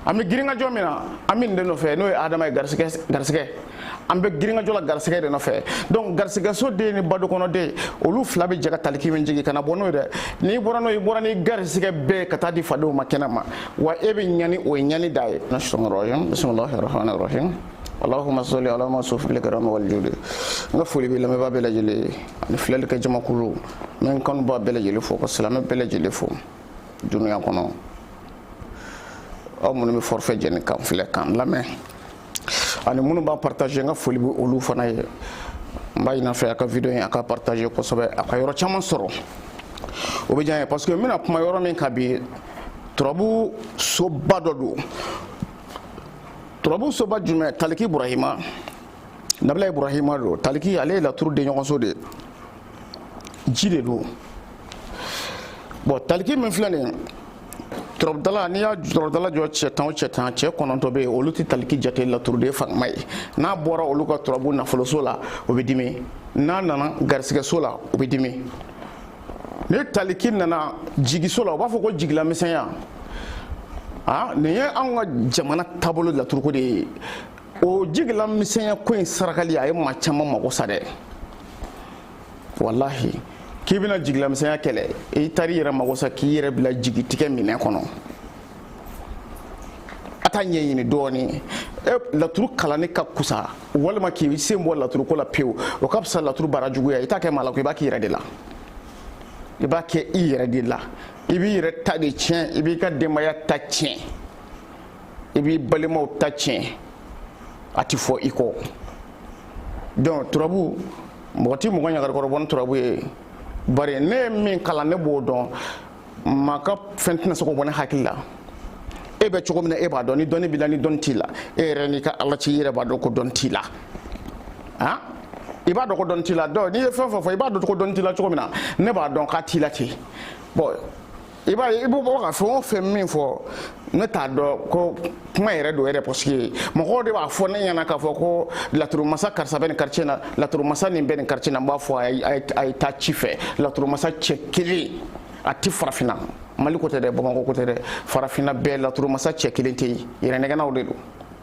an bɛ girinkajɔ min na an bɛ nin de nɔfɛ n'o ye adama ye garisigɛ garisigɛ an bɛ girinkajɔ la garisigɛ de nɔfɛ donc garisigɛso den ni badokɔnɔden olu fila bɛ jɛ ka taliki min jigin kana bɔ n'o ye dɛ n'i bɔra n'o i bɔra ni garisigɛ bɛɛ ka taa di fadenw ma kɛnɛ ma wa e bɛ ɲani o ye ɲani dan ye bisimilahi rahmani rahim allahumma salli ala mawsufi bil karam wal judi n ka foli bɛ lamɛnbaa bɛɛ lajɛlen ni filɛli ka jamakulu min ka n b'a bɛɛ lajɛlen fo ka silamɛ bɛɛ lajɛlen fo duniya kɔnɔ aw minnu bɛ forfait jɛni k'an filɛ k'an lamɛn ani minnu b'a partager n ka foli bɛ olu fana ye n b'a ɲini a fɛ a ka video in a ka partager kosɛbɛ a ka yɔrɔ caman sɔrɔ o bɛ diya n ye parce que n bɛna kuma yɔrɔ min kan bi turabu soba dɔ don turabu soba jumɛn taliki burahima nabila iburahima don taliki ale ye laturu denɲɔgɔnso de ye ji de don bɔn taliki min filɛ nin turabudala n'i ye turabudala jɔ cɛ tan o cɛ tan cɛ kɔnɔntɔn bɛ yen olu tɛ taliki jate laturuden fangama ye n'a bɔra olu ka turabu nafoloso la o bɛ dimi n'a nana garisigɛso la o bɛ dimi ni taliki nana jigiso la u b'a fɔ ko jigilamisɛnya aa nin ye anw ka jamana taabolo laturuko de ye o jigilamisɛnya ko in sarakali a ye maa caman mago sa dɛ walahi k'i bɛna jigilamisɛnya kɛlɛ i taara i yɛrɛ mago sa k'i yɛrɛ bila jigitigɛ minɛn kɔnɔ a taa ɲɛɲini dɔɔnin e laturu kalanni ka kusa walima k'i sen bɔ laturu ko la pewu o ka fisa laturu baara juguya i t'a kɛ maa la ko i b'a k'i yɛrɛ de la i b'a kɛ i yɛrɛ de la i b'i yɛrɛ ta de tiɲɛ i b'i ka denbaya ta tiɲɛ i b'i balimaw ta tiɲɛ a tɛ fɔ i kɔ donc turabu mɔgɔ tɛ mɔgɔ ɲagarikɔrɔbɔ ni turabu ye bari ne ye min kalan ne b'o dɔn maa ka fɛn tɛna se k'o bɔ ne hakili la e bɛ cogo min na e b'a dɔn ni dɔnni b'i la ni dɔnni t'i la e yɛrɛ n'i ka ala cɛ i yɛrɛ b'a dɔn ko dɔnni t'i la han i b'a dɔn ko dɔnni t'i la donc n'i ye fɛn fɛn fɔ i b'a dɔn ko dɔnni t'i la cogo min na ne b'a dɔn k'a t'i la ten bɔn i b'a ye i b'o bɔ ka fɛn o fɛn min fɔ ne t'a dɔn ko kuma yɛrɛ don yɛrɛ parce que mɔgɔw de b'a fɔ ne ɲɛna k'a fɔ ko laturumasa karisa bɛ nin quartier na laturumasa nin bɛ nin quartier na n b'a fɔ a ye taa ci fɛ laturumasa cɛ kelen a tɛ farafinna mali ko tɛ dɛ bamakɔ ko tɛ dɛ farafinna bɛɛ laturumasa cɛ kelen tɛ yen yɛrɛnɛgɛnnaw de don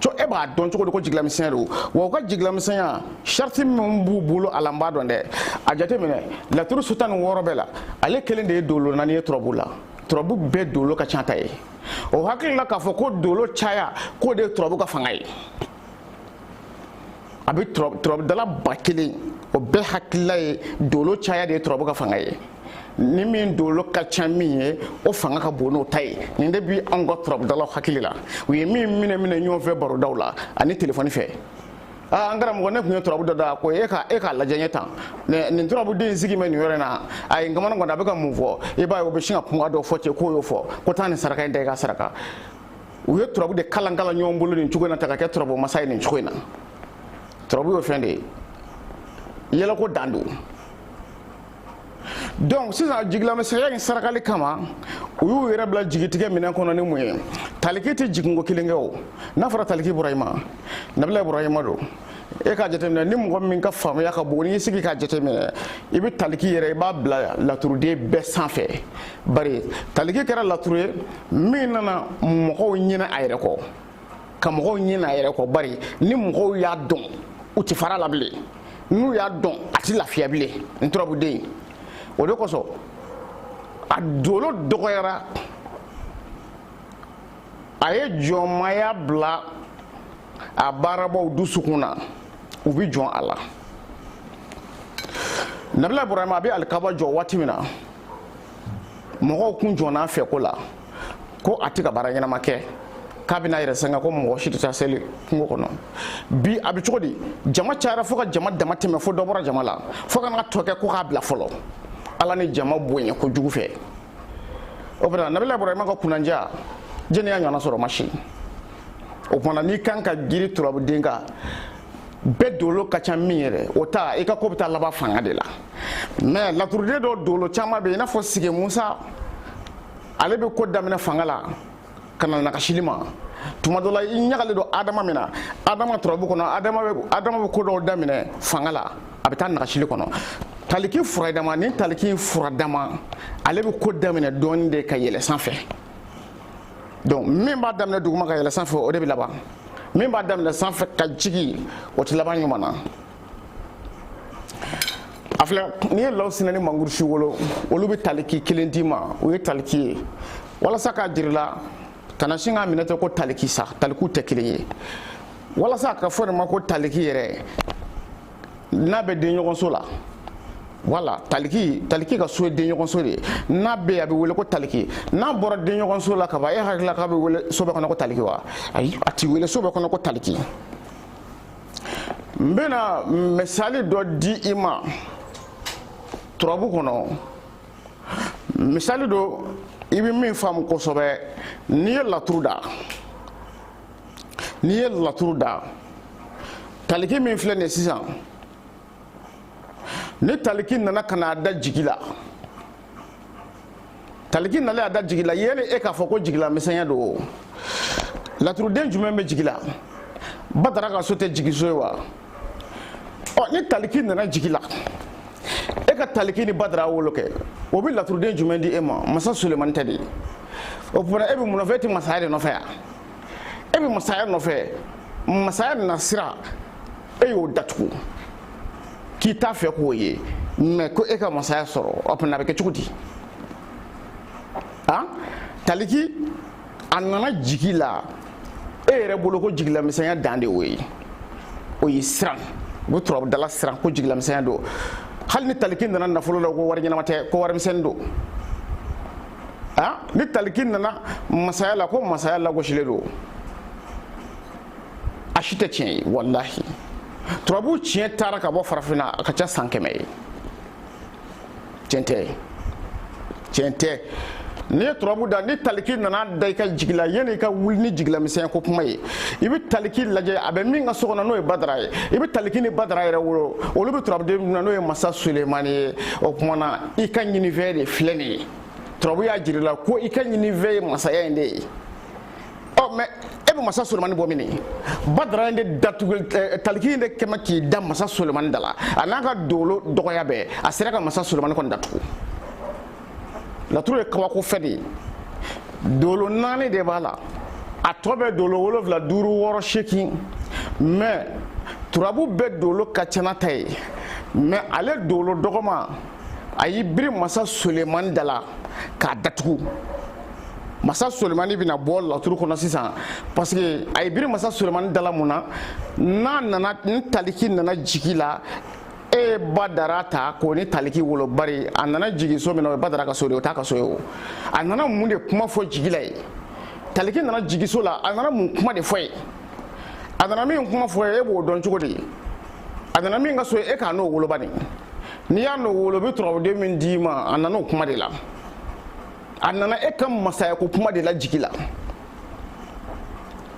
co e b'a dɔn cogo di ko jigilamisɛnya don wa u ka jigilamisɛnya sariti min b'u bolo a la n b'a dɔn dɛ a jateminɛ laturu so tan ni wɔɔrɔ bɛɛ la ale kelen de ye dolo naani ye turabu la turabu bɛɛ dolo ka ca n'a ta ye o hakili la k'a fɔ ko dolo caya k'o de ye turabu ka fanga ye a bɛ turabudala ba kelen o bɛɛ hakilila ye dolo caya de ye turabu ka fanga ye ni min dolo ka ca min ye o fanga ka bon n'o ta ye nin de bi anw ka turabudalaw hakili la u ye min minɛ minɛ ɲɔgɔn fɛ barodaw la ani telefɔni fɛ Ah, an karamɔgɔ ne tun ye turabu dɔ da ko e ka e k'a lajɛ n ye tan nin turabuden in sigi bɛ nin yɔrɔ in na a ye kamana kɔni a bɛ ka mun fɔ i b'a ye o bɛ sin ka kuma dɔ fɔ cɛ k'o y'o fɔ ko taa nin saraka in da i ka saraka u ye turabu de kalan kalan ɲɔgɔn bolo nin cogo in na taa ka kɛ turabu masa ye nin cogo in na turabu y'o fɛn de ye yɛlɛko dan don donc sisan jigilamisɛnya in sarakali kama u y'u yɛrɛ bila jigitigɛ minɛn kɔnɔ ni mun ye taliki tɛ jiginko kelen kɛ o n'a fɔra taliki ibrahima nabila ibrahima don e k'a jateminɛ ni mɔgɔ min ka faamuya ka bon n'i sigi k'a jateminɛ i bɛ taliki yɛrɛ i b'a bila laturuden bɛɛ sanfɛ bari taliki kɛra laturuden ye min nana mɔgɔw ɲinɛ a yɛrɛ kɔ ka mɔgɔw ɲinɛ a yɛrɛ kɔ bari ni mɔgɔw y'a dɔn u ti fara a la bilen n'u y'a dɔn a ti lafiya bilen nin turabuden o de kosɔn a dolo dɔgɔyara a ye jɔnmaya bila a baarabaw dusukun na u bɛ jɔn a la nabila burama a bɛ alikaba jɔ waati min na mɔgɔw kun jɔnna fɛn ko la ko a tɛ ka baara ɲɛnama kɛ k'a bɛna a yɛrɛ sɛgɛn ko mɔgɔ si tɛ taa seli kungo kɔnɔ bi a bɛ cogo di jama cayara fo ka jama dama tɛmɛ fo dɔ bɔra jama la fo ka na tɔ kɛ ko k'a bila fɔlɔ ala ni jama bonya kojugu fɛ o bɔra nabila ibrahima ka kunnandiya jɔni y'a ɲɔgɔnna sɔrɔ maa si o tuma na n'i kan ka girin turabuden kan bɛɛ dolo ka ca min yɛrɛ o ta i ka ko bɛ taa laban fanga de la mais laturuden dɔ dolo caman bɛ i n'a fɔ sigi musa ale bɛ ko daminɛ fanga la ka na nagasili ma tuma dɔ la i ɲagali don adama min na adama turabu kɔnɔ adama bɛ ko dɔw daminɛ fanga la a bɛ taa nagasili kɔnɔ taliki furadama ni taliki furadama ale bɛ ko daminɛ dɔɔni de ka yɛlɛ sanfɛ donc min b'a daminɛ duguma ka yɛlɛ sanfɛ o de bɛ laban min b'a daminɛ sanfɛ ka jigin o tɛ laban ɲuman na a filɛ n'i ye lawusinɛ ni mangurusi wolo olu bɛ taliki kelen d'i ma o ye taliki ye walasa k'a jira i la kana sin k'a minɛ ten ko taliki sa talikiw tɛ kelen ye walasa a ka fɔ de ma ko taliki yɛrɛ n'a bɛ denɲɔgɔnso la wala taliki taliki ka so ye denɲɔgɔnso de ye n'a bɛ yen a bɛ wele ko taliki n'a bɔra denɲɔgɔnso la kaban e hakilila k'a bɛ wele so bɛɛ kɔnɔ ko taliki wa ayi a ti wele so bɛɛ kɔnɔ ko taliki n bɛna misali dɔ di i ma turabu kɔnɔ misali don i bɛ min faamu kosɛbɛ n'i ye laturu da n'i ye laturu da taliki min filɛ nin ye sisan ni taliki nana ka na da jigi la taliki nalen a da jigi la yanni e k'a fɔ ko jigilamisɛnya don o laturuden jumɛn bɛ jigi la badara ka so tɛ jigiso ye wa ɔ ni taliki nana jigi la e ka taliki ni badara wolo kɛ o bɛ laturuden jumɛn di e ma masa sulemani tɛ de o tuma e bɛ mun nɔfɛ e tɛ masaya de nɔfɛ yan e bɛ masaya nɔfɛ masaya na sira e y'o datugu k'i t'a fɛ k'o ye mais ko e ka masaya sɔrɔ o tuma a bɛ kɛ cogo di han taliki a nana jigi la e yɛrɛ bolo ko jigilamisɛnya dan de y'o ye o ye siran u bɛ turabudala siran ko jigilamisɛnya don hali ni taliki nana nafolo la ko wari ɲɛnama tɛ ko warimisɛnnin don ni taliki nana masaya la ko masaya lagosilen don a si tɛ tiɲɛ ye walahi turabu tiɲɛ taara ka bɔ farafinna a ka ca san kɛmɛ ye tiɲɛ tɛ tiɲɛ tɛ n'i ye turabu da ni taliki nana da i ka jigi la yanni i ka wuli ni jigilamisɛnya ko kuma ye i bɛ taliki lajɛ a bɛ min ka so kɔnɔ n'o ye badara ye i bɛ taliki ni badara yɛrɛ wolo olu bɛ turabuden min na n'o ye masa sulemani ye o tuma na i ka ɲinifɛn de filɛ nin ye turabu y'a jir'i la ko i ka ɲinifɛn ye masaya in de ye ɔ mais e bɛ masa solomani bɔ min ye badara in de datugu eh, taliki in de kɛmɛ k'i da masa solomani da la a n'a ka dolo dɔgɔya bɛɛ a sera ka masa solomani kɔni datugu laturu ye kabako fɛn de ye dolo naani de b'a la a tɔ bɛ dolo wolonfila duuru wɔɔrɔ seegin mais turabu bɛɛ dolo ka ca n'a ta ye mais ale dolo dɔgɔma a y'i biri masa solomani da la k'a datugu masa solimani bɛna bɔ laturu kɔnɔ sisan parce que a y'i biri masa solimani da la mun na n'a nana ni taliki nana jigi la e badara ta k'o ni taliki wolo bari a nana jigin so min na o ye badara ka so de o t'a ka so ye o a nana mun de kuma fɔ jigi la ye taliki nana jigiso la a nana mun kuma de fɔ ye a nana min kuma fɔ ye e b'o dɔn cogo di a nana min ka so ye e k'a n'o wolo bani n'i y'a n'o wolo bɛ turabuden min d'i ma a nana o kuma de la a nana e ka masaya ko kuma de la jigi la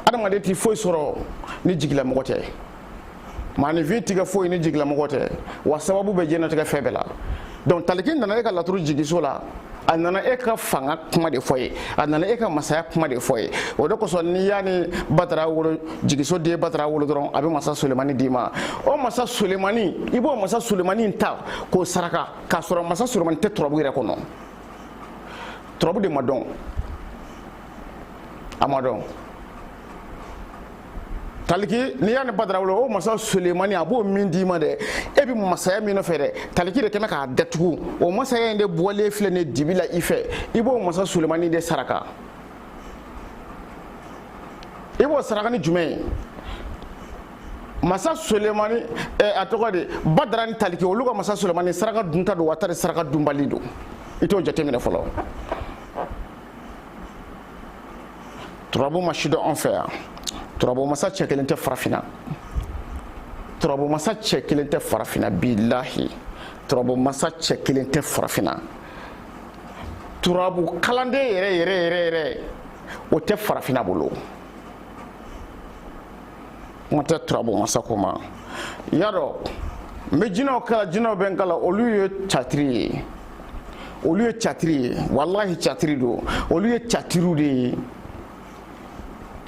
adamaden tɛ foyi sɔrɔ ni jigilamɔgɔ tɛ maanifin tigɛ foyi ni jigilamɔgɔ tɛ wa sababu bɛ diɲɛnatigɛ fɛn bɛɛ la donc taliki nana e ka laturu jigiso la a nana e ka fanga kuma de fɔ ye a nana e ka masaya kuma de fɔ ye o de kosɔn n'i y'a ni badara wolo jigiso den badara wolo dɔrɔn a bɛ masa solemani d'i ma o masa solemani i b'o masa solemani ta k'o saraka k'a sɔrɔ masa solemani tɛ turabu yɛrɛ kɔnɔ turabu de ma dɔn a ma dɔn taliki n'i y'a ni badara wolo o masa sulemani a b'o min d'i ma dɛ e bɛ masaya min nɔfɛ dɛ taliki de kɛnen k'a datugu o masaya in de bɔlen filɛ nin dibi la i fɛ i b'o masa sulemani de saraka i b'o saraka ni jumɛn ye masa solemani eh, a tɔgɔ de badara ni taliki olu ka masa solemani saraka dunta don wa tari saraka dunbali don i t'o jateminɛ fɔlɔ turabu ma sidɔn an fɛ yan turabu masa cɛ kelen tɛ farafina turabu masa cɛ kelen tɛ farafina bilahi turabu masa cɛ kelen tɛ farafina turabu kalanden yɛrɛ yɛrɛ yɛrɛ yɛrɛ o tɛ farafina bolo kuma tɛ turabu masako ma y'a dɔn n bɛ jinɛw kalan jinɛw bɛ n kalan olu ye catiri ye olu ye catiri ye walahi catiri don olu ye catiriw de ye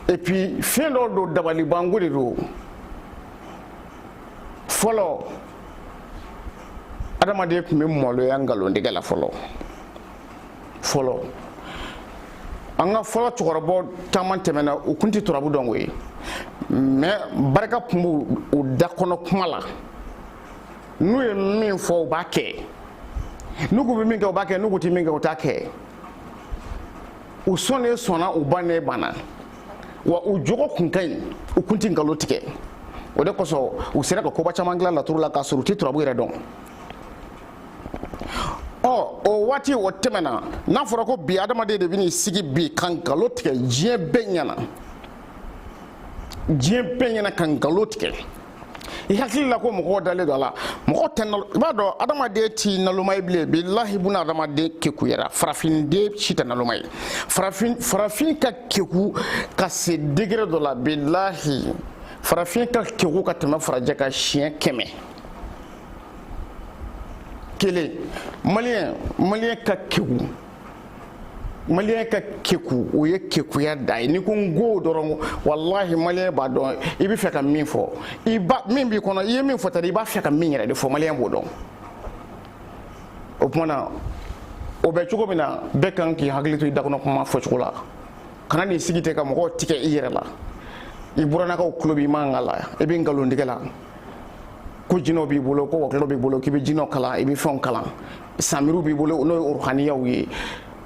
et puis fɛn dɔw don dabalibanko de don fɔlɔ adamaden tun bɛ maloya nkalontigɛ la fɔlɔ fɔlɔ an ka fɔlɔ cɛkɔrɔba caman tɛmɛna u kun tɛ turabu dɔn koyi mais barika kun b'u u da kɔnɔ kuma la n'u ye min fɔ u b'a kɛ n'u k'u bɛ min kɛ u b'a kɛ n'u k'u tɛ min kɛ u t'a kɛ u sɔnnen sɔnna u bannen banna wa u jogo kun ka ɲi u kun tɛ nkalon tigɛ o de kosɔn u sera ka koba caman dilan laturu la k'a sɔrɔ u tɛ turabu yɛrɛ dɔn o waati o tɛmɛna n'a fɔra ko bi adamaden de bɛn'i sigi bi ka nkalon tigɛ diɲɛ bɛɛ ɲɛna diɲɛ bɛɛ ɲɛna ka nkalon tigɛ i hakili la ko mɔgɔw dalen don a la mɔgɔ tɛ nalo i b'a dɔn adamaden ti naloma ye bilen bilahi buna adamaden kekuyara farafinden si tɛ naloma ye farafin farafin ka keku ka se degré dɔ la bilahi farafin ka keku ka tɛmɛ farajɛ kan siɲɛ kɛmɛ kelen maliyɛn maliyɛn ka keku maliyɛn ka keku o ye kekuya dan ye n'i ko n go dɔrɔn walahi maliyɛn b'a dɔn i b'a fɛ ka min fɔ i ba min b'i kɔnɔ i ye min fɔ tadi i b'a fɛ ka min yɛrɛ de fɔ maliyɛn b'o dɔn o tuma na o bɛ cogo min na bɛɛ kan k'i hakili to i dakɔnɔ kuma fɔcogo la kana n'i sigi ten ka mɔgɔw tigɛ i yɛrɛ la i burannakaw tulo b'i mankan la i bɛ nkalontigɛ la ko jinɛw b'i bolo ko wɔkulɔw b'i bolo k'i bɛ jinɛw kalan i bɛ fɛnw kalan samiriw b'i bolo n'o ye ruhaniyaw ye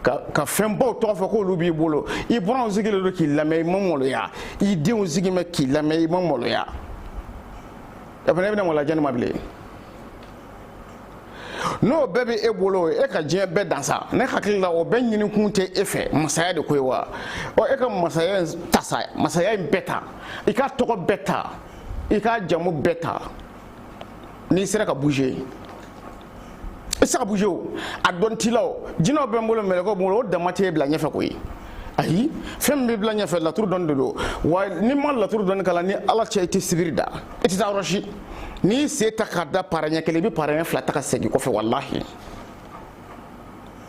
ka fɛnbaw tɔgɔ fɔ k'olu b'i bolo i buranw sigilen don k'i lamɛn i ma maloya i denw sigi mɛ k'i lamɛn i ma maloya e fana e bɛna maloya jɔn ma bilen n'o bɛɛ bɛ e bolo e ka diɲɛ bɛɛ dan sa ne hakili la o bɛɛ ɲini kun tɛ e fɛ masaya de ko ye wa ɔ e ka masaya in ta sa masaya in bɛɛ ta i ka tɔgɔ bɛɛ ta i ka jamu bɛɛ ta n'i sera ka bouger i sera ka bouger o a dɔn t'i la o jinɛw bɛ n bolo mɛlɛkɛw bɛ n bolo o dama t'e bila ɲɛfɛ koyi ayi fɛn min bɛ bila ɲɛfɛ laturu dɔnni de don wa n'i ma laturu dɔnni kalan ni ala cɛ i tɛ sibiri da i tɛ taa yɔrɔ si n'i sen ta k'a da para ɲɛ kelen i bɛ para ɲɛ fila ta ka segin kɔfɛ walahi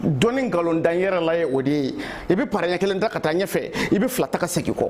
dɔnni nkalon dan yɛrɛ la ye o de ye i bɛ para ɲɛ kelen ta ka taa ɲɛfɛ i bɛ fila ta ka segin kɔ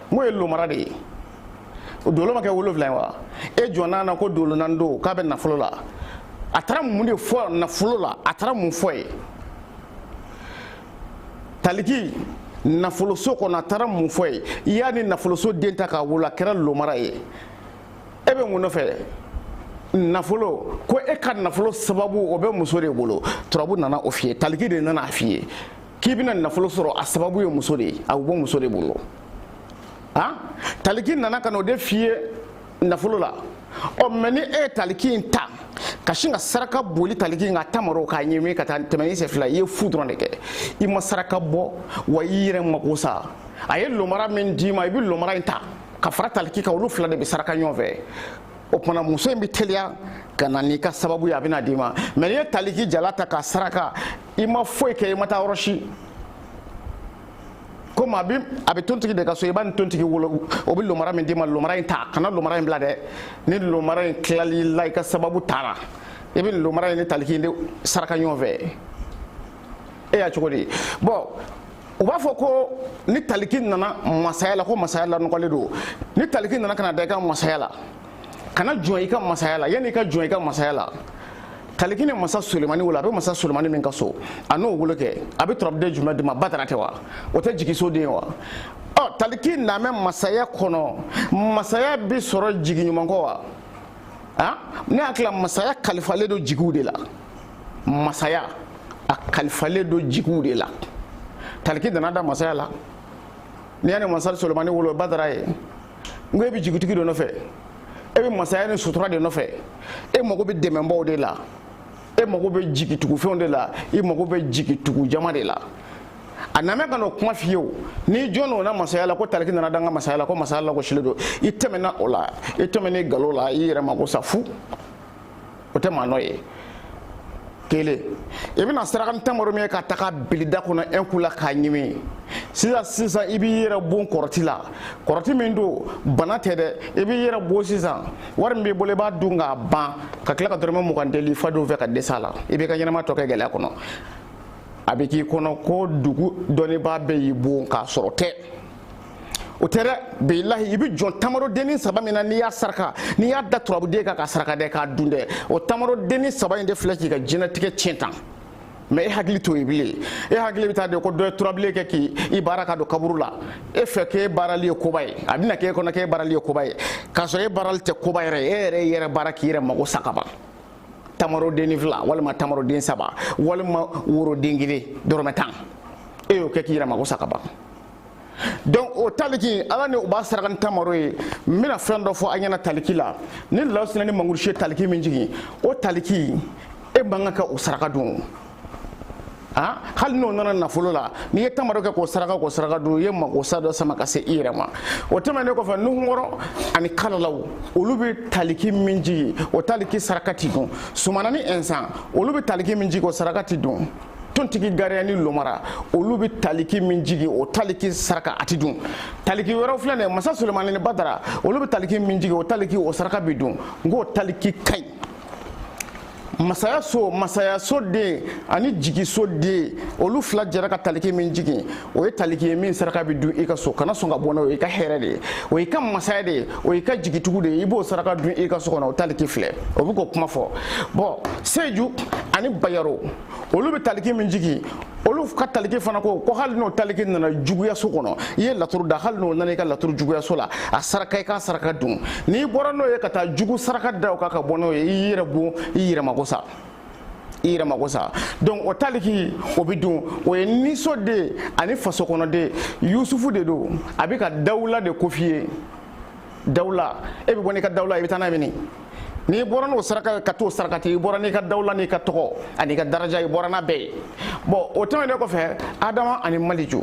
n'o ye lomara de ye o dolo ma kɛ wolonwula ye wa e jɔnna na ko dolo naani don k'a bɛ nafolo la a taara mun de fɔ nafolo la a taara mun fɔ ye taliki nafoloso kɔnɔ a taara mun fɔ ye i y'a ni nafoloso den ta k'a wolo a kɛra lomara ye e bɛ mun nɔfɛ nafolo ko e ka nafolo sababu o bɛ muso de bolo turabu nana o f'i ye taliki de nana a f'i ye k'i bɛna nafolo sɔrɔ a sababu ye muso de ye a bɛ bɔ muso de bolo han taliki nana ka na o de f'i ye nafolo la ɔ mais ni e ye taliki in ta ka sin ka saraka boli taliki in ka tamaro k'a ɲɛmi ka taa tɛmɛ ni sɛfila i ye fu dɔrɔn de kɛ i ma saraka bɔ wa i yɛrɛ mako sa a ye lomara min d'i ma i bɛ lomara in ta ka fara taliki kan olu fila de bɛ saraka ɲɔgɔn fɛ o tuma muso in bɛ teliya ka na n'i ka sababu ye a bɛna d'i ma mais n'i ye taliki jalan ta k'a saraka i ma foyi kɛ i ma taa yɔrɔ si comme a bɛ tontigi de ka so i b'a ni tontigi wolo o bɛ lomara min d'i ma lomara in ta kana lomara in bila dɛ ni lomara in tilal'i la i ka sababu taara i bɛ lomara in ni taliki de saraka ɲɔgɔn fɛ e y'a cogo di bon u b'a fɔ ko ni taliki nana masaya la ko masaya lanɔgɔlen don ni taliki nana ka na da i ka masaya la kana jɔn i ka masaya la yanni i ka jɔn i ka masaya la taliki ni masa sulemani wolo a bɛ masa sulemani min ka so a n'o wolo kɛ a bɛ turabuden jumɛn d'i ma badara tɛ wa o tɛ jigiso den ye wa ɔ taliki namɛ masaya kɔnɔ masaya bɛ sɔrɔ jigi ɲuman kɔ wa a ne hakili la masaya kalifalen don jigiw de la masaya a kalifalen don jigiw de la taliki nana da masaya la n'i y'a ni masa sulemani wolo badara ye n ko e bɛ jigitigi de nɔfɛ e bɛ masaya ni sutura de nɔfɛ e mago bɛ dɛmɛbaw de la e mago bɛ jigitugufɛnw de la i mago bɛ jigitugu jama de la a namɛ ka n'o kuma f'i ye o n'i jɔn n'o na masaya la ko taliki nana da n ka masaya la ko masaya lagosilen don i tɛmɛna o la i tɛmɛna i galo la i yɛrɛ mago sa fu o tɛ maa nɔ ye kelen i bɛna saraka ni tamaro min ye k'a ta k'a bil'i da kɔnɔ un coup la k'a ɲimi sisan sisan i b'i yɛrɛ bon kɔrɔti la kɔrɔti min don bana tɛ dɛ i b'i yɛrɛ bon sisan wari min b'i bolo i b'a dun k'a ban ka tila ka dɔrɔmɛ mugan deli fadenw fɛ ka dɛsɛ a la i b'i ka ɲɛnama tɔ kɛ gɛlɛya kɔnɔ a bɛ k'i kɔnɔ ko dugu dɔnnibaa bɛɛ y'i bon k'a sɔrɔ tɛ o tɛ dɛ bilahi i bɛ jɔn tamarodennin saba min na n'i y'a saraka n'i y'a da turabuden kan k'a saraka dɛ k'a dun dɛ o tamarodennin saba in de filɛ k'i ka diɲɛlatigɛ tiɲɛ tan mais e hakili t'o ye bilen e hakili bɛ taa de ko dɔ ye turabilen kɛ k'i i baara ka don kaburu la e fɛ k'e baarali ye koba ye a bɛna k'e kɔnɔ k'e baarali ye koba ye k'a sɔrɔ e baarali tɛ koba yɛrɛ ye e yɛrɛ y'i yɛrɛ baara k'i yɛrɛ mago sa ka ban tamarodennin fila walima tamaroden saba walima woroden kelen dɔrɔmɛ tan e y'o kɛ k'i yɛrɛ mago sa ka ban donc o taliki ala ni u b'a saraka ni tamaro ye n bɛna fɛn dɔ fɔ a ɲɛna taliki la ni lawusina ni mangurusi ye taliki min jigin o taliki e man kan ka o saraka dun ah, hali n'o nana nafolo la n'i ye tamaro kɛ k'o saraka k'o saraka dun i ye magosa dɔ sama ka se i yɛrɛ ma o tɛmɛnen kɔfɛ nuhunkɔrɔ ani kalalaw olu bɛ taliki min jigin o taliki saraka ti dun sumana ni ɛnsan olu bɛ taliki min jigin o saraka ti dun tontigi gariya ni lomara olu bɛ taliki min jigin o taliki saraka a ti dun taliki wɛrɛw filɛ nin ye masa sulemani ni badara olu bɛ taliki min jigin o taliki o saraka bɛ dun nk'o taliki ka ɲi masaya so masaya so den ani jigiso den olu fila jɛra ka taliki min jigin o ye taliki ye min saraka bɛ dun i ka so kana sɔn ka bɔ n'o ye i ka hɛrɛ de ye o y'i ka masaya de ye o y'i ka jigitigiw de ye i b'o saraka dun i ka so kɔnɔ o taliki filɛ o bɛ k'o kuma fɔ bɔn seju ani bayaro olu bɛ taliki min jigin olu ka taliki fana ko ko hali n'o taliki nana juguyaso kɔnɔ i ye laturu da hali n'o nana i ka laturu juguyaso la a saraka i k'a saraka dun n'i bɔra n'o ye ka taa jugu saraka da o kan ka bɔ n'o ye i yɛrɛ bon i yɛrɛ mago sa i yɛrɛ mako sa donc o taliki o bɛ dun o ye ni so den ani faso kɔnɔ den yusufu de don a bɛ ka dawula de ko f'i ye dawula e bɛ bɔ n'i ka dawula i bɛ taa n'a ye min n'i bɔra n'o saraka ka t'o sarakati i bɔra n'i ka dawula n'i ka tɔgɔ ani ka daraja i bɔra n'a bɛɛ ye bon o tɛmɛnen kɔfɛ adama ani maliju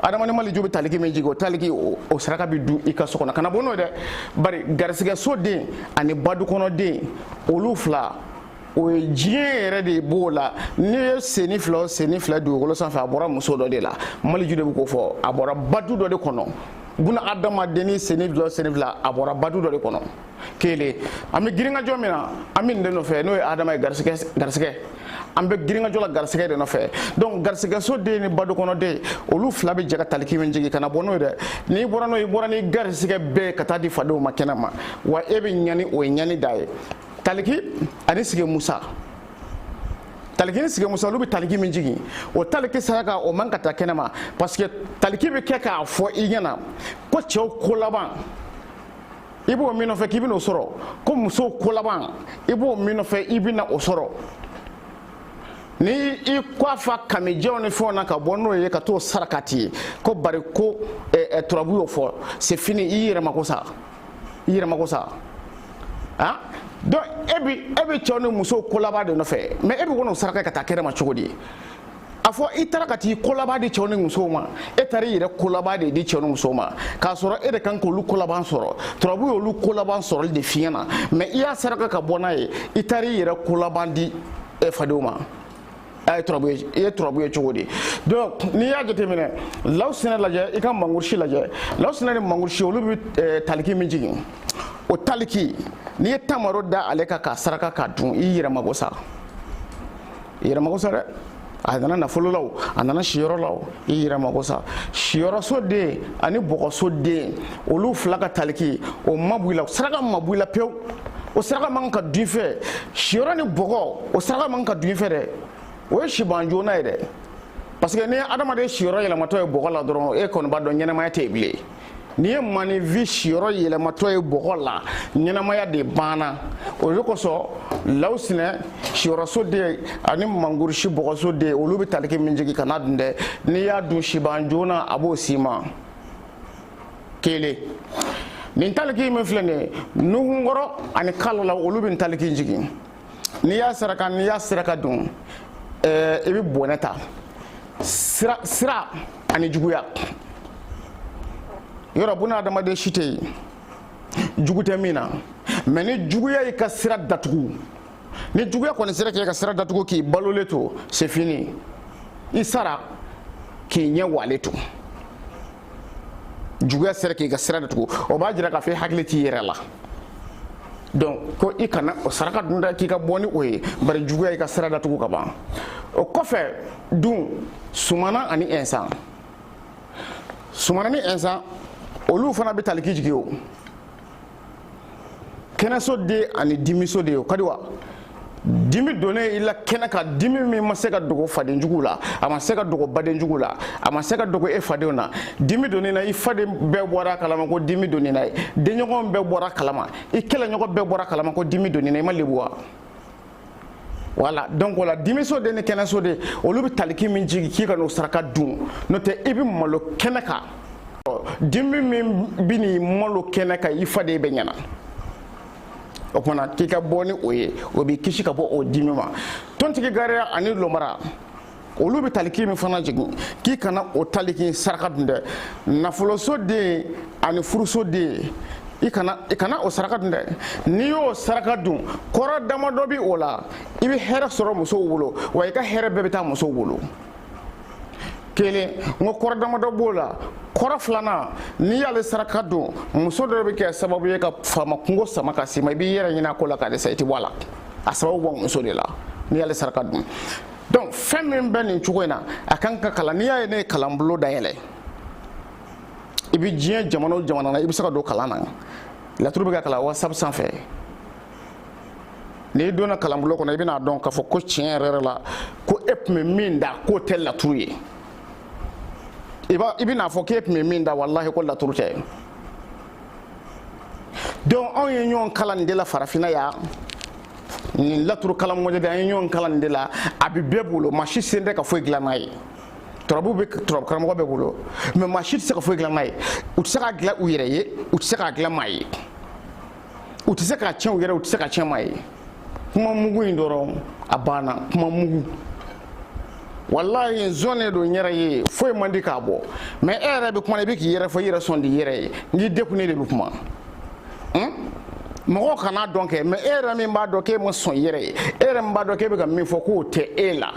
adama ni maliju bɛ taliki min jigin o taliki o saraka bɛ dun i ka so kɔnɔ kana bɔ n'o ye dɛ bari garisigɛ so den ani badukɔnɔden olu fila o ye diɲɛ yɛrɛ de b'o la n'i ye senni fila o senni fila dugukolo sanfɛ a bɔra muso dɔ de la maliju de bɛ k'o fɔ a bɔra badu dɔ de kɔnɔ buna adamadenni senni fila o senni fila a bɔra badu dɔ de kɔnɔ kelen an bɛ girinkajɔ min na an bɛ nin de nɔfɛ n'o ye adama ye garisigɛ garisigɛ an bɛ girinkajɔ la garisigɛ de nɔfɛ donc garisigɛso den ni badu kɔnɔ den olu fila bɛ jɛ ka taliki jigin kana bɔ n'o ye dɛ n'i bɔra n'o ye i bɔra ni garisigɛ bɛɛ ka taa di fadenw ma kɛnɛ ma wa e bɛ ɲani o ye ɲani da ye taliki ani sigi musa taliki ni sigi musa olu bɛ taliki min jigin o taliki saraka o man ka taa kɛnɛma parce que taliki bɛ kɛ k'a fɔ i ɲɛna ko cɛw ko laban i b'o min nɔfɛ k'i bɛna o sɔrɔ ko musow ko laban i b'o min nɔfɛ i bɛna o sɔrɔ ni i ko a fa kamijɛw ni fɛnw na ka bɔ n'o ye ka t'o sarakati ko bari ko turabu y'o fɔ c'est fini i yɛrɛ mako sa i yɛrɛ mako sa han donc e bi e bɛ cɛw ni musow kolaban de nɔfɛ mais e bɛ kɔnɔ saraka ka taa kɛnɛ ma cogo di a fɔ i taara ka t'i kolaban di cɛw ni musow ma e taara i yɛrɛ kolaban de di cɛw ni musow ma k'a sɔrɔ e de kan k'olu kolaban sɔrɔ turabu y'olu kolaban sɔrɔli de f'i ɲɛna mais i y'a saraka ka bɔ n'a ye i taara i yɛrɛ kolaban di fadenw ma a ye turabu ye i ye turabu ye cogo di donc n'i y'a jateminɛ lawusinɛ lajɛ i ka mangurusi lajɛ lawusinɛ ni mangurusi olu bɛ eh, taliki min jigin o taliki n'i ye tamaro da ale kan k'a saraka k'a dun i yɛrɛ mago sa i yɛrɛ mago sa dɛ a nana nafolo la o a nana siyɔrɔ la o i yɛrɛ mako sa siyɔrɔso den ani bɔgɔso den olu fila ka taliki o ma b'i la saraka ma b'i la pewu o saraka man ka dun fɛ siyɔrɔ ni bɔgɔ o saraka man ka dun fɛ dɛ o ye siban joona ye dɛ parce que n'i ye adamaden siyɔrɔ yɛlɛmatɔ ye bɔgɔ la dɔrɔn e kɔni b'a dɔn ɲɛnamaya tɛ yen bilen n'i ye maninfin siyɔrɔ yɛlɛmatɔ ye bɔgɔ la ɲɛnamaya de banna o de kosɔn lawusinɛ siyɔrɔso den ani mangurusi bɔgɔso den olu bɛ taliki min jigin kan'a dun dɛ n'i y'a dun siban joona a b'o s'i ma kelen nin taliki min filɛ nin ye nuhunkɔrɔ ani kalala olu bɛ nin taliki jigin n'i y'a saraka n'i y'a saraka dun ɛɛ i bɛ bɔnɛ ta sira ani juguya yɔrɔ buna adamaden si tɛ yen jugu tɛ min na mais ni juguya y'i ka sira datugu ni juguya kɔni sera k'i ka sira datugu k'i balolen to c'est fini i sara k'i ɲɛ walen to juguya sera k'i ka sira datugu o b'a jira k'a fɔ i hakili t'i yɛrɛ la donc ko i kana o saraka dun dɛ k'i ka bɔ ni o ye bari juguya y'i ka sira datugu ka ban o kɔfɛ dun sumana ani ɛnsan sumana ni ɛnsan olu fana bɛ taliki jigin o kɛnɛso den ani dimiso den ye o ka di wa dimi donnen i la kɛnɛ kan dimi min ma se ka dogo faden jugu la a ma se ka dogo baden jugu la a ma se ka dogo e fadenw na dimi donnen i na i faden bɛɛ bɔra a kalama ko dimi donnen i na i denɲɔgɔn bɛɛ bɔra a kalama i kɛlɛɲɔgɔn bɛɛ bɔra a kalama ko dimi donnen i na i ma lebu wa voilà donc o la dimiso den ni kɛnɛso den olu bɛ taliki min jigin k'i kan'o saraka dun n'o tɛ i bɛ malo kɛnɛ kan dimi min bɛn'i malo kɛnɛ kan i faden bɛɛ ɲɛ na o kuma na k'i ka bɔ ni o ye o b'i kisi ka bɔ o dimi ma tontigi gariya ani lomara olu bɛ taliki min fana jigin k'i kana o taliki saraka dun dɛ nafoloso den ani furuso den i kana i kana o saraka dun dɛ n'i y'o saraka dun kɔrɔ damadɔ bɛ o la i bɛ hɛrɛ sɔrɔ musow bolo wa i ka hɛrɛ bɛɛ bɛ taa musow bolo kelen n ko kɔrɔ damadɔ b'o la kɔrɔ filanan n'i y'ale saraka dun muso dɔ bɛ kɛ sababu ye ka faama kungo sama ka s'i ma i b'i yɛrɛ ɲin'a ko la ka dɛsɛ i tɛ bɔ a la a sababu bɔ muso de la n'i y'ale saraka dun donc fɛn min bɛ nin cogo in na a kan ka kalan n'i y'a ye ne ye kalanbolo dayɛlɛ i bɛ diɲɛ jamana o jamana na i bɛ se ka don kalan na laturu bɛ ka kalan whatsapp sanfɛ n'i donna kalanbolo kɔnɔ i bɛna dɔn k'a fɔ ko tiɲɛ yɛrɛ yɛrɛ la ko e tun bɛ min da k'o tɛ laturu ye i b'a i bɛna fɔ k'e tun bɛ min da walahi ko laturu tɛ donc anw ye ɲɔgɔn kalan nin de la farafinna yan nin laturu kalan mɔdɛli an ye ɲɔgɔn kalan nin de la a bɛ bɛɛ bolo maa si se tɛ ka foyi dilan n'a ye turabu bɛ turabu karamɔgɔ bɛɛ bolo mais maa si tɛ se ka foyi dilan n'a ye u tɛ se k'a dilan u yɛrɛ ye u tɛ se k'a dilan maa ye u tɛ se k'a tiɲɛ u yɛrɛ u tɛ se k'a tiɲɛ maa ye kuma mugu in dɔrɔn a banna kuma mugu walayi zon de don n yɛrɛ ye foyi man di k'a bɔ mais e yɛrɛ bɛ kuma i bɛ k'i yɛrɛ fɔ i yɛrɛ sɔn di yɛrɛ ye nk'i dekunnen de bɛ kuma mɔgɔw kan'a dɔn kɛ mais e yɛrɛ min b'a dɔn k'e ma sɔn yɛrɛ ye e yɛrɛ min b'a dɔn k'e bɛ ka min fɔ k'o tɛ e la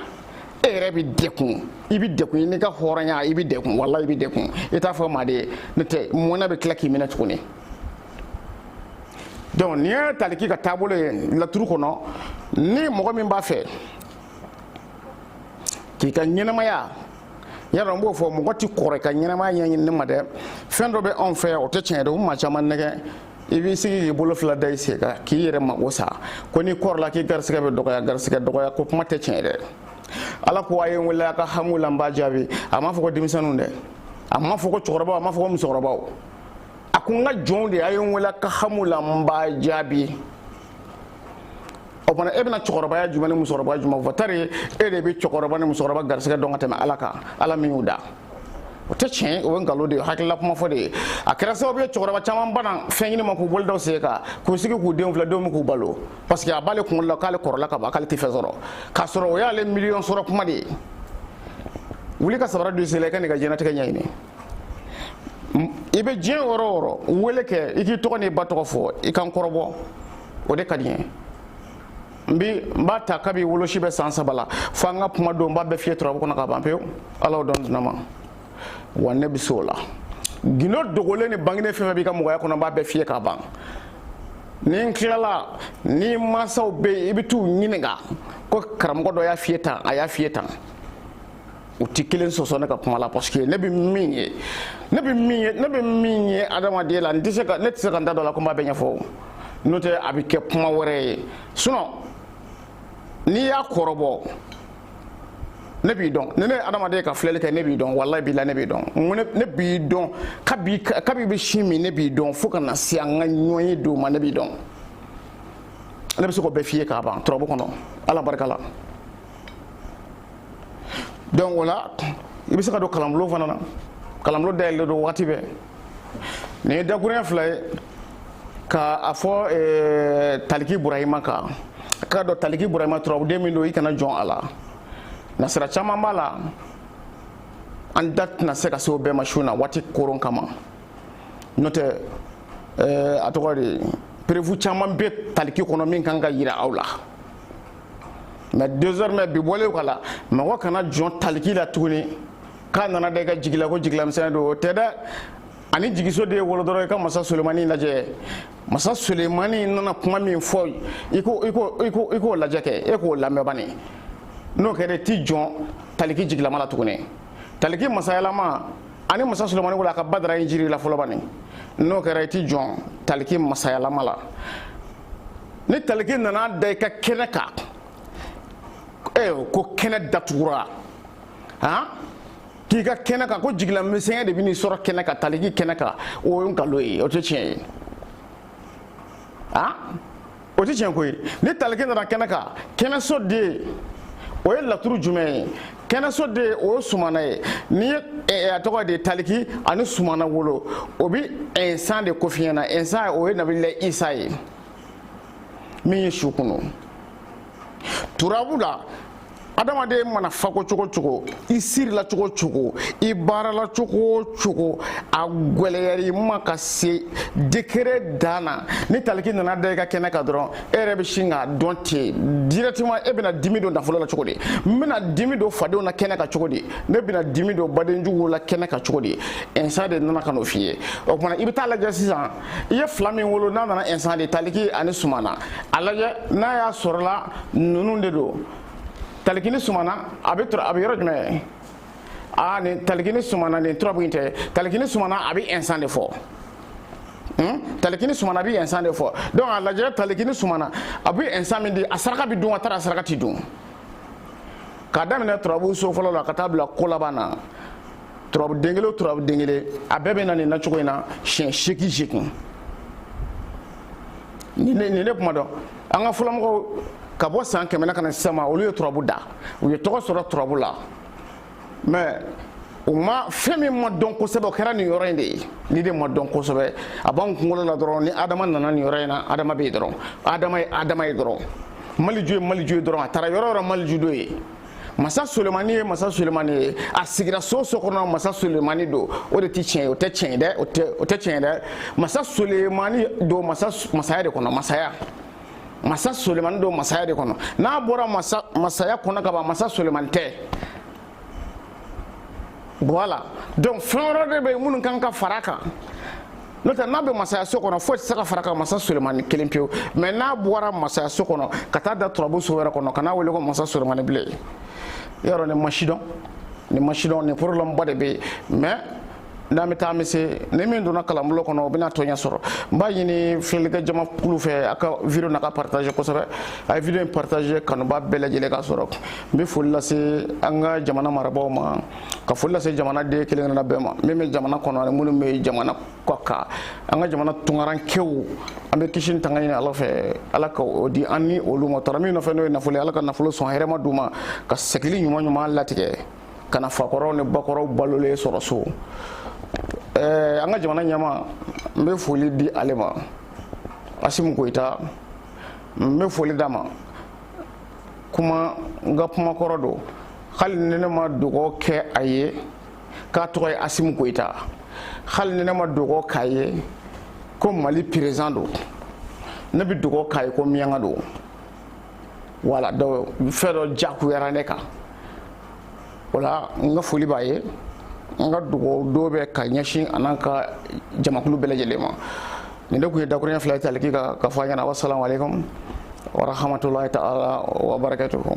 e yɛrɛ bɛ dekun i bɛ dekun i n'i ka hɔrɔnya i bɛ dekun walayi i bɛ dekun i t'a fɔ maa de ye n'o tɛ mɔnɛ bɛ tila k'i minɛ tuguni donc nin ye taliki ka taabolo ye laturu kɔnɔ ni mɔgɔ min b'a fɛ k'i ka ɲɛnamaya yala n b'o fɔ mɔgɔ tɛ kɔrɔ i ka ɲɛnamaya ɲɛɲini ne ma dɛ fɛn dɔ bɛ anw fɛ yan o tɛ tiɲɛ ye dɛ u maa caman nɛgɛn i b'i sigi k'i bolo fila da i sen kan k'i yɛrɛ mago sa ko n'i kɔrɔla k'i garisigɛ bɛ dɔgɔya garisigɛ dɔgɔya ko kuma tɛ tiɲɛ ye dɛ ala ko a ye n wele a ka hami la n b'a jaabi a m'a fɔ ko denmisɛnninw dɛ a m'a fɔ ko cɛkɔrɔbaw a m'a fɔ ko musokɔrɔbaw a ko n ka jɔnw de a ye n wele a ka hami la n b'a jaabi o fana e bɛna cɛkɔrɔbaya jumɛn ni musokɔrɔbaya jumɛn fɔ tari e de bɛ cɛkɔrɔba ni musokɔrɔba garisɛgɛ dɔn ka tɛmɛ ala kan ala min y'u da o tɛ tiɲɛ o ye nkalon de ye hakilila kuma fu de ye a kɛra sababu ye cɛkɔrɔba caman bana fɛn ɲini ma k'u bolo da u sen kan k'u sigi k'u denw filɛ denw bɛ k'u balo parce que a b'ale kunkolo la k'ale kɔrɔla ka ban k'ale tɛ fɛn sɔrɔ k'a sɔrɔ o y'ale miliyɔn sɔrɔ kuma de ye wuli ka sabara don i sen la i ka n'i ka diɲɛnatigɛ ɲɛɲini i bɛ diɲɛ yɔrɔ o yɔrɔ wele kɛ i k'i tɔgɔ n'i ba tɔgɔ fɔ i ka n kɔrɔbɔ o de ka di n ye n bi n b'a ta kabi wolosi bɛ san saba la fo an ka kuma don n b'a bɛɛ f'i ye turabu kɔnɔ ka ban pewu ala y'o dɔn di ne ma wa ne bɛ se o la gindo dogolen ni banginen fɛn o fɛn b'i ka mɔgɔya kɔnɔ n b'a bɛɛ f'i ye ka ban ni n tilala n'i mansaw bɛ yen i bɛ t'u ɲininka ko karamɔgɔ dɔ y'a f'i ye tan a y'a f'i ye tan u tɛ kelen sɔsɔ ne ka kuma la parce que ne bɛ min ye ne bɛ min ye ne bɛ min ye adamaden la n tɛ se ka ne tɛ se ka n da don a la ko n b'a bɛɛ ɲɛfɔ n'o tɛ a bɛ kɛ kuma wɛrɛ ye sinon n'i y'a kɔrɔbɔ ne b'i dɔn ni ne ye adamaden ka filɛli kɛ ne b'i dɔn walayi bilayi ne b'i dɔn n ko ne b'i dɔn kabi kabi i bɛ sin min ne b'i dɔn fo ka na se an ka ɲɔgɔn ye don ma ne b'i dɔn ne bɛ se k'o bɛɛ f'i ye ka ban turabu kɔnɔ ala barika la. donc o la i bɛ se ka don kalanbulon fana na kalanbulon dayɛlɛlen don wagati bɛɛ nin ye dakuruɲɛ fila ye ka a fɔ eh, taliki burahima kan a k'a dɔn taliki burahima turabuden min don i kana jɔn a la nasira caman b'a la an da tɛna se ka se o bɛɛ ma su na waati koron kama n'o tɛ eh, a tɔgɔ de preuve caman bɛ taliki kɔnɔ min kan ka yira aw la mais désormais bi bɔlen kɔ la mɔgɔ kana jɔn taliki la tuguni k'a nana da i ka jigi la ko jigilamisɛnya don o tɛ dɛ ani jigiso den ye wolo dɔrɔn i ka masa sulemani lajɛ masa sulemani nana kuma min fɔ i k'o lajɛ kɛ e k'o lamɛn bani n'o kɛra i ti jɔn taliki jigilama la tuguni taliki masayalama ani masa sulemani wolo i ka badara injiri la fɔlɔ bani n'o kɛra i ti jɔn taliki masayalama la ni taliki nana da i ka kɛnɛ kan ko kɛnɛ datugura han k'i ka kɛnɛ kan ko jigilamisɛnya de bɛn'i sɔrɔ kɛnɛ kan taliki kɛnɛ kan o ye nkalon ye o tɛ tiɲɛ ye han o tɛ tiɲɛ ko ye ni taliki nana kɛnɛ kan kɛnɛso den o ye laturu jumɛn ye kɛnɛso den o ye sumana ye ni ye a tɔgɔ de ye taliki ani sumana wolo o bi insan de ko f'i ɲɛ na insan o ye nabila isa ye min ye su kunun turabu la adamaden mana fako cogo cogo i sirila cogo cogo i baarala cogo cogo a gwɛlɛyar'i ma ka se degré dan na ni taliki nana da i ka kɛnɛ kan dɔrɔn e yɛrɛ bɛ sin k'a dɔn ten directement e bɛna dimi don nafolo la cogo di n bɛna dimi don fadenw na kɛnɛ kan cogo di ne bɛna dimi don badenjuguw la kɛnɛ kan cogo di insan de nana ka n'o f'i ye o tuma na i bɛ taa lajɛ sisan i ye fila min wolo n'a nana insan de taliki ani sumana a lajɛ n'a y'a sɔrɔla ninnu de don taliki ni sumana a bɛ a bɛ yɔrɔ jumɛn aa nin taliki ni sumana nin turabu in tɛ taliki ni sumana a bɛ insan de fɔ Hmm? taliki ni sumana a bɛ insan de fɔ donc a lajɛ taliki ni sumana a bɛ insan min di a saraka bɛ dun a taara a saraka tɛ dun k'a daminɛ turabu so fɔlɔ la ka taa bila ko laban na turabu den kelen o turabu den kelen a bɛɛ bɛ na nin nacogo in na siɲɛ seegin seegin nin ne nin ne kuma dɔn an ka fɔlɔmɔgɔw ka bɔ san kɛmɛ na ka na sisan ma olu ye turabu da u ye tɔgɔ sɔrɔ turabu la mais u ma fɛn min ma dɔn kosɛbɛ o kɛra nin yɔrɔ in de ye nin de ma dɔn kosɛbɛ a b'an kunkolo la dɔrɔn ni adama nana nin yɔrɔ in na adama bɛ yen dɔrɔn adama ye adama ye dɔrɔn maliju ye maliju ye dɔrɔn a taara yɔrɔ yɔrɔ maliju don yen masa sulemani ye masa sulemani ye a sigira so so kɔnɔ masa sulemani don o de tɛ tiɲɛ ye o tɛ tiɲɛ ye dɛ o tɛ tiɲɛ ye dɛ masa sulemani don masa masaya de kɔnɔ masaya masa sulemani don masaya de kɔnɔ n'a bɔra masa masaya kɔnɔ ka ban masa sulemani tɛ voilà donc fɛn wɛrɛ de bɛ yen minnu kan ka fara kan n'o tɛ n'a bɛ masayaso kɔnɔ foyi tɛ se ka fara kan masa sulemani kelen pewu mais n'a bɔra masayaso kɔnɔ ka taa da turabu so wɛrɛ kɔnɔ kan'a wele ko masa sulemani bilen yɔrɔ nin ma sidɔn nin ma sidɔn nin problème ba de bɛ yen mais n'an bɛ taa an bɛ se ni min donna kalanbulon kɔnɔ o bɛna tiɲɛ sɔrɔ n b'a ɲini filɛlikɛ jama kulu fɛ a ka video na ka partager kosɛbɛ a ye video in partager kanubaa bɛɛ lajɛlen ka sɔrɔ n bɛ foli lase an ka jamana marabaaw ma ka foli lase jamana den kelen kelenna bɛɛ ma min bɛ jamana kɔnɔ ani minnu bɛ jamana kɔ kan an ka jamana tunkarankew an bɛ kisi ni tanga ɲini ala fɛ ala ka o di an ni olu ma u taara min nɔfɛ n'o ye nafolo ye ala ka nafolo sɔn hɛrɛma d'u ma ka segili ɲuman ɲuman latigɛ ka na fakɔrɔw ni bakɔrɔw balolen sɔrɔ so ɛɛ an ka jamana ɲɛmaa n bɛ foli di ale ma asimu goyita n bɛ foli d'a ma kuma n ka kuma kɔrɔ don hali ni ne ma dugawu kɛ a ye k'a tɔgɔ ye asimu goyita hali ni ne ma dugawu k'a ye ko mali perezidan don ne bɛ dugawu k'a ye ko miɲanka don voilà donc fɛn dɔ jagoyara ne kan o la n ka foli b'a ye n ka dugawu don bɛ ka ɲɛsin a n'an ka jamakulu bɛɛ lajɛlen ma nin de tun ye dakuruɲɛ fila ye taliki ka fɔ a ɲɛna wasalamu aleykum warahamatulahi taala wabarakatuhu